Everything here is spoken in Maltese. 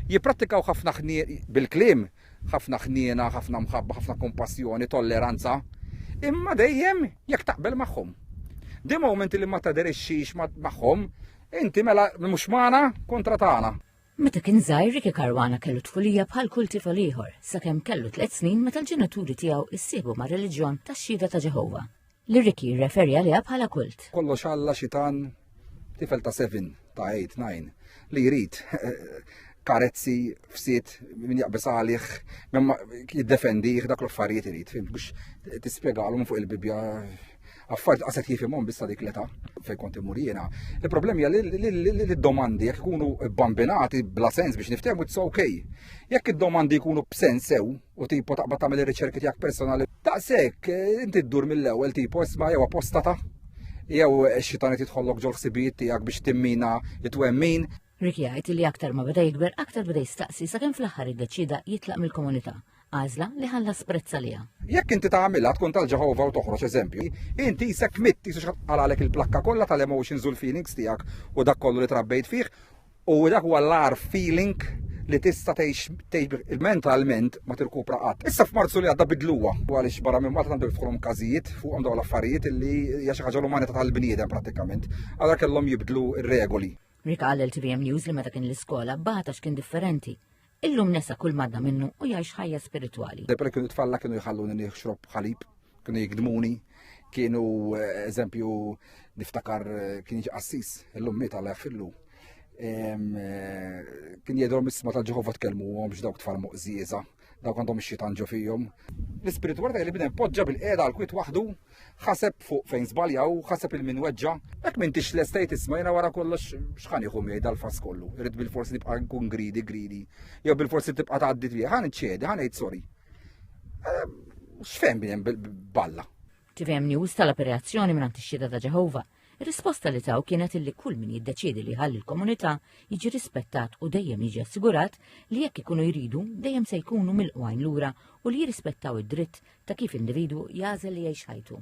Jipprattikaw ħafna ħniena, bil-kliem, ħafna ħniena, ħafna mħabba, ħafna kumpassjoni, tolleranza, imma dejjem jekk taqbel magħhom. Di moment li ma taderixxix magħhom, inti mela mhux magħna kontra tagħna. Meta kien żgħir Ricky Caruana kellu tfulija bħal kull tifel ieħor, sakemm kellu tliet snin meta l-ġenituri tiegħu ssiebu ma' reliġjon tax-Xhieda ta' Ġeħova. li Ricky jirreferi għaliha bħala kult. Kollox Alla xitan tifel ta' 7 ta' 8 9 li jrid karezzi fsit min jaqbes għalih, jiddefendi dak l-affarijiet irid, fim, biex tispjegalhom fuq il-Bibja affarijiet qaset jifimhom bissa dik l-età fejn kont imur jiena. Il-problemi hija li d-domandi jekk ikunu bambinati bla sens biex niftehmu it's ok. Jekk id-domandi jkunu b'sens sew, u tipo taqbad tagħmel ir-riċerki tiegħek personali. Daqshekk eh, inti ddur mill-ewwel tipo isma' jew apostata jew eh, xitan qed jidħollok ġol ħsibijiet tiegħek biex timmina it-twemmin. Rick jgħid li aktar ma beda jikber aktar beda jistaqsi sakemm fl-aħħar iddeċida jitlaq mill-komunità għażla li ħalla sprezza liha. Jekk inti tagħmilha tkun tal-Ġeħova u toħroġ eżempju, inti jisek mitt jisux għalalek il-plakka kollha tal-emotions u l-feelings tiegħek u dak kollu li trabbejt fih U dak huwa l-ar feeling li tista' tgħix mentalment ma tirkupra qatt. Issa f'Marzu li għadda bidluha għaliex barra minn Malta għandu jiftkrom każijiet fuqhom dawn l-affarijiet li hija xi ħaġa l-umanità tal-bniedem prattikament. Allora kellhom jibdlu r-regoli. Rika għal LTVM News li meta kien l-iskola bata x'kien differenti. Illum nesa kull madda minnu u jgħix ħajja spiritwali. Debra kienu tfalla kienu jħalluni nieħxrob ħalib, kienu jikdmuni, kienu eh, eżempju niftakar eh, kien qassis illum miet għal fillu. Eh, kien jedhom isma ta' Ġehova tkellmu għom dawk tfal muqżieża, dawk għandhom ix-xitan ġo fihom. L-ispiritualità li bidem poġġa bil-qiegħda għal kwit waħdu Ħaseb fuq fejn żbaljaw, ħaseb il min weġġa. Jekk m'intix l-estate isma' jiena wara kollox x'ħan jieħu miegħi dal-fass kollu. Irrid bil-forsi nibqa' nkun gridi, gridi. Jew bil-forsi tibqa' tgħaddi tiegħi, ħan iċċedi, ħan ngħid sorry. Ehm, x'fehem balla? TVM News tal-operazzjoni minn ix-xhieda ta' Ġeħova Ir-risposta li taw kienet illi kull min jiddeċiedi li ħalli l-komunità jiġi rispettat u dejjem jiġi assigurat li jekk ikunu jridu dejjem se jkunu mill-qwajn lura u li jirrispettaw id-dritt ta' kif individwu jagħżel li jgħix ħajtu.